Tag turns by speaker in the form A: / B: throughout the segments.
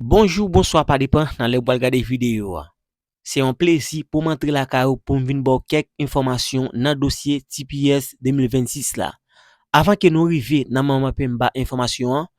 A: Bonjou, bonswa pa depan nan lè ou pral gade videyo a. Se yon plezi pou m antre lakay ou pou m vin ba w kèk enfòmasyon nan dosye tps 2026 la. Avan ke nou rive nan moman pe m ba enfòmasyon an,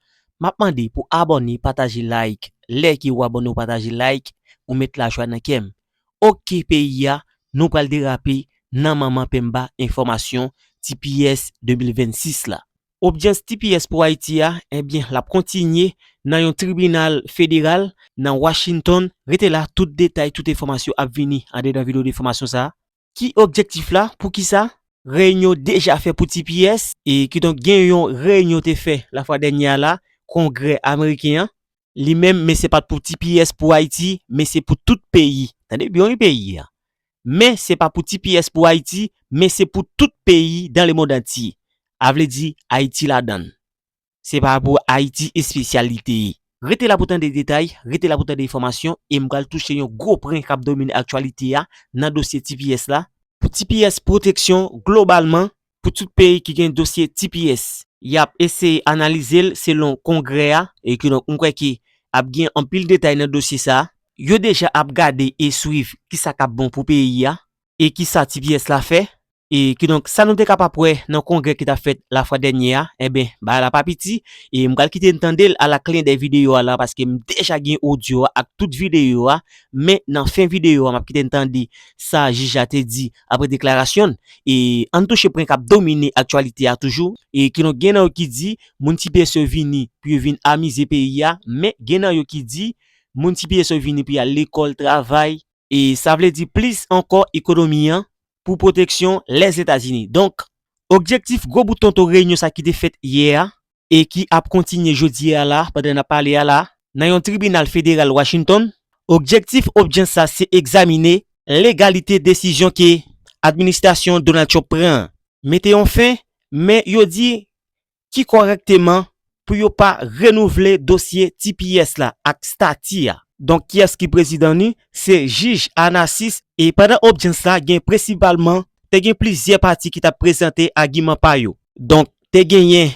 A: m ap mande pou abòne pataje like lè ke ou abòne ou pataje like ou met lajwa nan kè m. Ok peyi a, nou pral derape nan moman pe m ba enfòmasyon tps 2026 la. Obdyans tps pou Ayiti a, ebyen lap kontinye nan yon tribinal federal nan Washington, rete la tout detay tout enfòmasyon ap vini andedan video de fòmasyon sa a. Ki objektif la, poukisa? Reyinyon deja fè pou tps, e kidonk gen yon reyinyon te fè lafwa dènye a la, kongrè ameriken an, li menm men se pat pou tps pou ayiti men se pou tout peyi tande byen wi peyi a men se pa pou tps pou ayiti men se pou tout peyi dan le mond antye a vle di ayiti ladann se pa pou ayiti espesyal li te ye. Rete la pou tande detay, rete la pou tande enfòmasyon e m pral touche yon gwo pren kap domine aktyalite a nan dosye tps la, pou tps pwoteksyon globalman pou tout peyi ki gen dosye tps. Y ap eseye analize l selon kongrè a e ki donk m kwè ke ap gen anpil detay nan dosye sa a. Yo deja ap gade e swiv ki sa k ap bon pou peyi a e ki sa tps la fè e ki donk sa nou te kapab wè nan kongrè ki t ap fèt lafwa dènye a enben bagay la pa piti e m pral kite n tande l ala kle dèy videyo a la paske m deja gen odyo a ak tout videyo a men nan fen videyo a m ap kite n tande sa jij la te di Apre deklarasyon n, ann touche pwen k ap domine aktyalite a toujou. Kidonk gen nan yo ki di moun tps yo vini pou yo vin amize peyi a, men gen nan yo ki di moun tps yo vini pou y al lekòl, travay, sa vle di plis ankò ekonomi an pou pwoteksyon Lèzetazini donk objektif gwo bout tonton reyinyon sa ki te fèt yè a e ki ap kontinye jodi a la pandan nap pale a la nan yon tribinal federal Washington, objektif odjyans sa se egzamine legalite desizyon ke administrasyon Donald Trump pran an mete yon fen men yo di ki kòrèkteman pou yo pa renouvle dosye tps la ak stati a. Donk kiyès ki prezidan ni? Se jij Annasis e pandan odjyans la gen presipalman te gen plizyè pati ki tap prezante agiman pa yo. Donk te genyen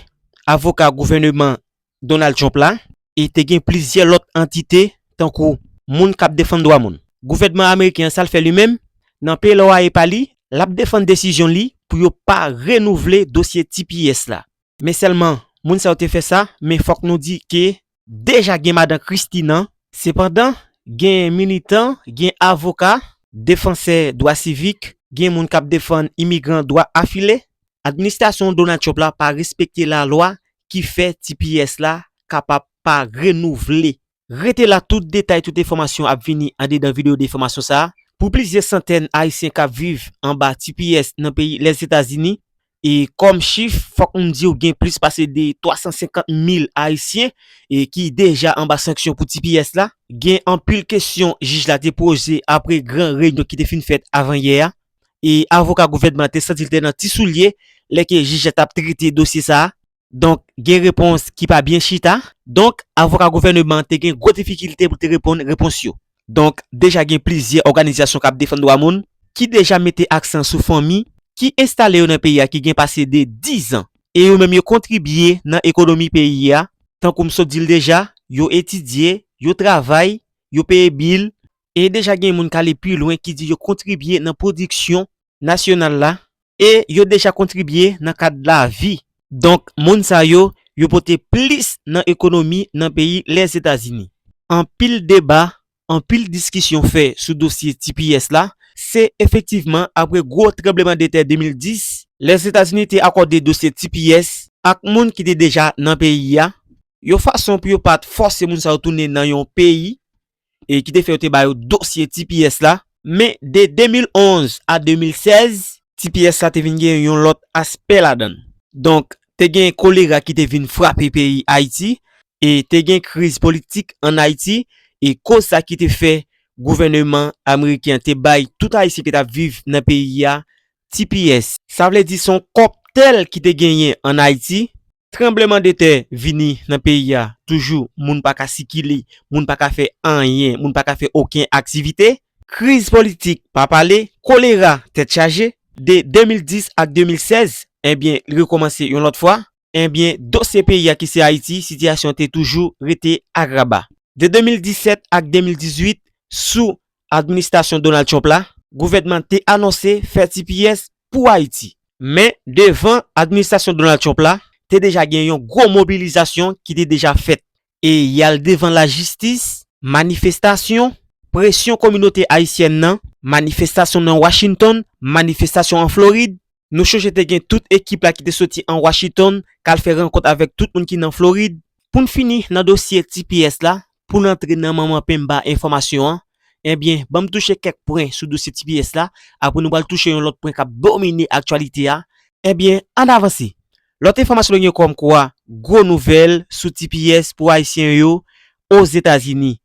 A: avoka gouvèneman Donald Trump la, e te gen plizyè lòt antite tankou moun k ap defann dwa moun. Gouvènman ameriken an sa l fè li menm? Nan pledoye pa li, l ap defann desizyon li pou yo pa renouvle dosye tps la. Men sèlman moun sa yo te fè sa, men fòk nou di ke deja gen madan Christie nan. Sepandan, gen militan, gen avoka, defansè dwa sivik, gen moun kap defann imigran dwa afile, administrasyon Donald Trump la pa respekte lalwa ki fè tps la kapab pa renouvle. Rete la tout detay tout enfòmasyon ap vini andedan video defamasyon sa. Pou plizyè santèn ayisyen kap viv anba tps nan peyi Lèzetazini, E kòm chif, fòk m di w gen plis pase 350 mil Ayisyen ki deja anba sanksyon pou tps la. Gen anpil kesyon jij la te poze apre gran reyinyon ki te fin fèt avanyè a. E avoka gouvènman an te santi l te nan ti soulye lè ke jij la t ap trete dosye sa a. Donk, gen repons ki pa byen chita. Donk, avoka gouvèneman an te gen gwo difikilte pou l te reponn repons yo. Donk, deja gen plizyè òganizasyon k ap defann dwa moun ki deja mete aksan sou fanmi ki enstale yo nan peyi a ki gen pase de dizan e yo menm yo kontribye nan ekonomi peyi a, tankou m sot di l deja, yo etidye, yo travay, yo peye bil. E deja gen moun k ale pi lwen ki di yo kontribye nan pwodiksyon nasyonal la e yo deja kontribye nan kad lavi. Donk moun sa yo, yo pote plis nan ekonomi nan peyi Lèzetazini. Anpil deba, anpil diskisyon fè sou dosye tps la, se efektivman apre gwo tranblemandetè 2010, Lèzetazini te akòde dosye tps ak moun ki te deja nan peyi a, yon fason pou yo pa t fòse moun sa yo tounen nan yon peyi e ki te fè yo te ba yo dosye tps la. Men, de 2011 a 2016, tps la te vin gen yon lòt aspè ladan l. Donk, te gen kolera ki te vin frape peyi Ayiti e te gen kriz politik ann Ayiti e koz sa ki te fè gouvèneman ameriken an te bay tout Ayisyen ki t ap viv nan peyi a tps. Sa vle di se yon kòktèl ki te genyen ann Ayiti Tranbleman de tè vini nan peyi a toujou moun pa ka sikile, moun pa ka fè anyen, moun pa ka fè oken aktivite. Kriz politik pa pale, kolera tèt chaje, de 2010 ak 2016 enbyen li rekomanse yon lòt fwa, enbyen dosye peyi a ki se Ayiti sitiyasyon te toujou rete agraba. De 2017 ak 2018 sou administasyon Donald Trump la, gouvènman te anonse fè tps pou Ayiti. Men, devan administrasyon Donald Trump la, te deja gen yon gwo mobilizasyon ki te deja fèt. E y al devan lajistis, manifestasyon, presyon kominote ayisyèn nan, manifestasyon nan Washington, manifestasyon an Florid. Nou chonje te gen tout ekip la ki te soti an Washington k al fè rankont avèk tout moun ki nan Florid. Pou n fini nan dosye tps la, Pou n antre nan manman penmba enfòmasyon an, ebyen ban m touche kèk pwen sou dosye tps la, apre nou pral touche yon lòt pwen k ap domine aktyalite a, ebyen an n avanse, lòt enfòmasyon nou gen kòmkwa gwo nouvèl sou tps pou ayisyen yo Ozetazini,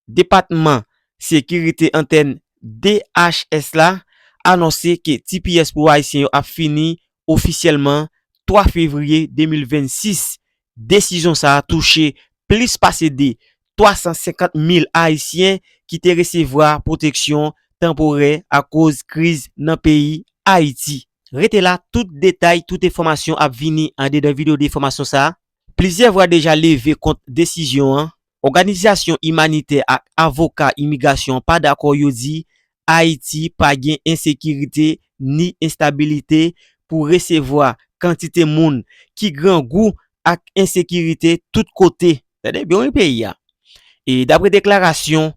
A: Depatman Sekirite Entèn, DHS, la anonse ke tps pou ayisyen yo ap fini ofisyèlman 3 fevriye 2026. Desizyon sa a touche plis pase de 350 mil ayisyen ki te resevwa pwoteksyon tanporè akoz kriz nan peyi Ayiti. Rete la, tout detay, tout enfòmasyon ap vini andedan videyo de enfòmasyon sa a. Plizyè vwa deja leve kont desizyon an, Òganizasyon imanitè ak avoka imigrasyon an pa dakò yo di Ayiti pa gen ensekirite ni enstabilite pou resevwa kantite moun ki grangou ak ensekirite tout kote. Tande byen wi peyi a. E dapre deklarasyon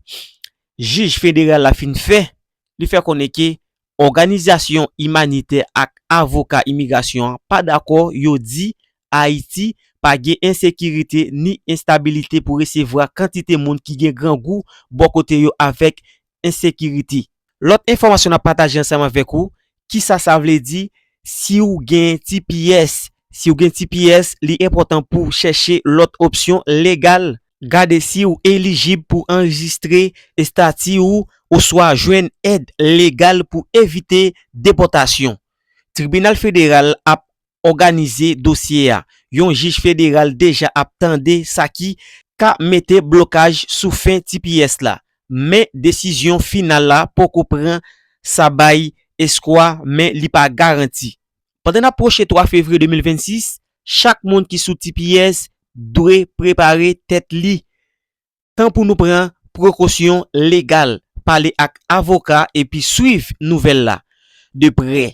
A: jij federal la fin fè, li fè konnen ke Òganizasyon imanitè ak avoka imigrasyon an pa dakò yo di Ayiti pa gen ensekirite ni enstabilite pou resevwa kantite moun ki gen grangou bò kote yo avèk ensekirite. Lòt enfòmasyon n ap pataje ansanm avèk ou, Kisa sa vle di si w gen tps? Si w gen tps, li enpòtan pou w chèche lòt opsyon legal Gade si ou elijib pou anrejistre estati ou oswa jwenn èd legal pou evite depòtasyon. Tribinal Federal ap òganize dosye a. Yon jij federal deja ap tande sa ki ka mete blokaj sou fen tps la, men desizyon final la poko pran. Sa bay eskwa, men li pa garanti. Pandan n ap pwoche 3 fevriye 2026, chak moun ki sou tps dwe prepare tèt li. Tan pou nou pran prekosyon legal, pale ak avoka epi swiv nouvèl la de prè.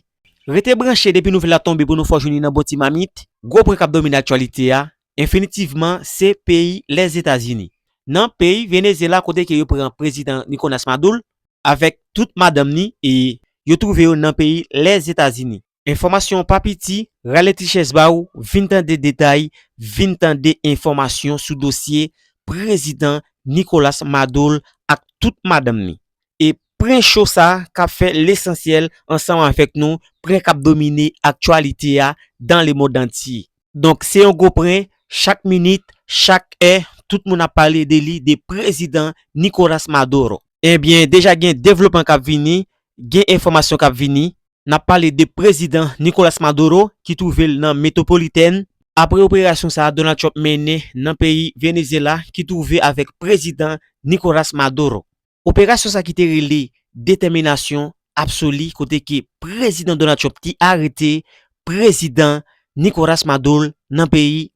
A: Rete branche depi nouvèl la tonbe pou nou fè w jwenn li nan bon ti mamit. Gwo pwen k ap domine aktyalite a enfinitivman se peyi Lèzetazini. Nan peyi Venezyela kote ke yo pran prezidan Nicolas Madul avèk tout madanm ni e yo twouve yo nan peyi Lèzetazini. Enfòmasyon pa piti, rale ti chèz ba ou vin tande detay, vin tande enfòmasyon sou dosye Prezidan Nicolas Madol ak tout madanm ni. E pren show sa kap fè lesansyèl ansanm avèk nou, pren kap domine aktyalite a dans le monde entier. Donk se yon gwo pren, chak minit, chak è, tout moun ap pale de li, de prezidan Nicolas Maduro. Ebyen, deja gen devlopman k ap vini, gen enfòmasyon k ap vini. N ap pale de prezidan Nicolas Maduro ki twouve l nan Metropolitèn, apre operasyon sa a Donald Trump mennen nan peyi Venezyela ki twouve avèk prezidan Nicolas Maduro. Operasyon sa ki te rele Detèminasyon Absoli kote ke Prezidan Donald Trump te arete Prezidan Nicolas Madol nan peyi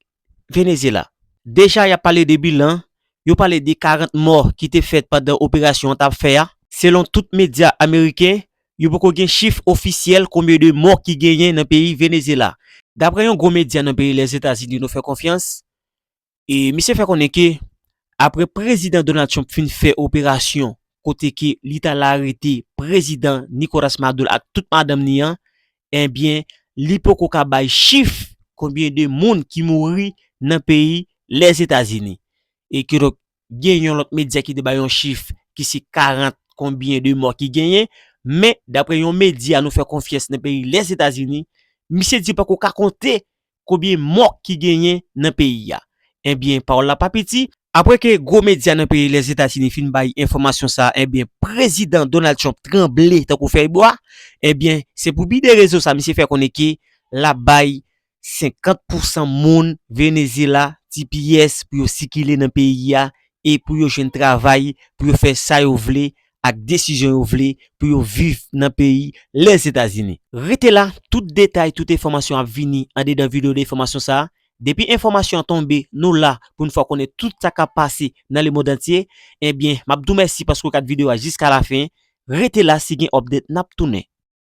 A: Venezyela. Deja yap pale de bilan, yo pale de 40 mò ki te fèt pandan operasyon an tap fè a. Selon tout medya ameriken, yo poko gen chif ofisyèl konbyen de mò ki genyen nan peyi Venezyela. Daprè yon gwo medya nan peyi Lèzetazini nou fè konfyans, E misye fè konnen ke apre Prezidan Donald Trump fin fè operasyon kote ke li t al arete Prezidan Nicolas Maduro ak tout madanm ni an, enbyen li poko ka bay chif konbyen de moun ki mouri nan peyi Lèzetazini. E kidonk gen yon lòt medya ki te bay yon chif ki se 40 konbyen de mò ki genyen, men dapre yon medya nou fè konfyans nan peyi Lèzetazini, misye di poko ka konte Konbyen mò ki genyen nan peyi a? Enbyen pawòl la pa piti. Apre ke gwo medya nan peyi Lèzetazini fin bay enfòmasyon sa a enbyen Prezidan Donald Trump tranble tankou fèy bwa. Enbyen se pou bi de rezon sa a misye fè konnen ke l ap bay 50 pousan moun Venezyela tps pou yo sikile nan peyi a e pou yo jwenn travay pou yo fè sa yo vle ak desizyon yo vle pou yo viv nan peyi Lèzetazini. Rete la, tout detay, tout enfòmasyon ap vini andedan video defomasyon sa a. Depi enfòmasyon an tonbe, nou la pou n fè w konnen tout sa k ap pase nan lemond antye. Ebyen, m ap di w mèsi paske w gad video a jiskalafen. Rete la, si gen update n ap tounen.